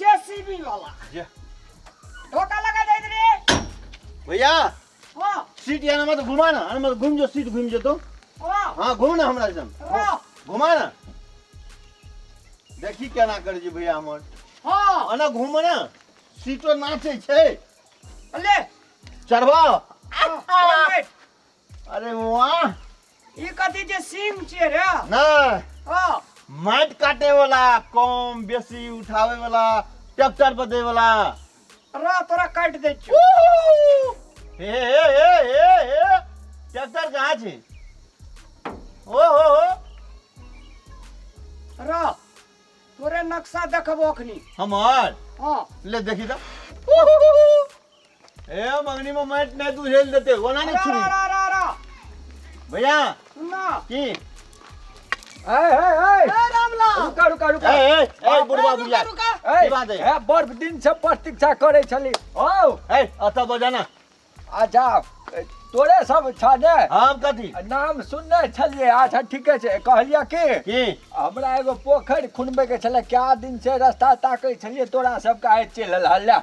JCB वाला जे। धोखा लगा जाइत रे भैया ओ सीट यहाँ मत घुमा ना अरे मत घूम जो सीट घूम जो तो ओ हाँ घूम ना हमरा जन ओ घुमा ना देखी केना कर जी भैया हमर हां अना घूम ना सीटो नाचे छै ले चढ़वा आ, आ, अरे वाह ई कथी छै सिंग छियै रे नहीं ओ माइट काटे वाला कम बेसी उठावे वाला ट्रैक्टर पर दे वाला रो तोरा काट दे छियो हे हे हे हे हे ट्रैक्टर कहाँ छी ओ हो हो रो तोरे नक्शा देखबो अखनी हमार हां ले देखी तो ए मगनी में मैट नहीं तू हेल देते वो ना नहीं छुरी रा रा रा भैया सुनना की ए ए ए ए रामला रुका रुका ए रुका ए ए बुढ़वा बुढ़िया रुका ए की बात है? ए बड़ दिन से प्रतीक्षा करे छली ओ ए अता बजाना अच्छा ए, तोरे सब छाने हम कथी नाम सुनने छलिए अच्छा ठीके छै कहलिए कि की हमरा एगो पोखरि खुनबे के छले क्या दिन से रास्ता ताकै छलिए तोरा सबके आइ चलि हल्ला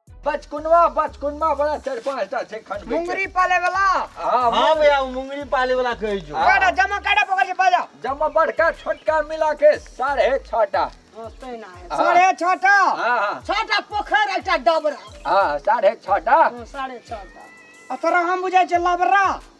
बचकुनवा बचकुनवा बड़ा चार पांच टा छै खंड मुंगरी पाले वाला हां हां भैया उ मुंगरी पाले वाला कहै जो काटा जमा काटा पकड़ के बाजा जमा बड़का छोटका मिला के साढ़े छह टा दोस्ते ना है साढ़े छह टा हां हां छह टा पोखर एकटा डबरा हां साढ़े छह टा साढ़े छह टा अतरा हम बुझाय छै लबरा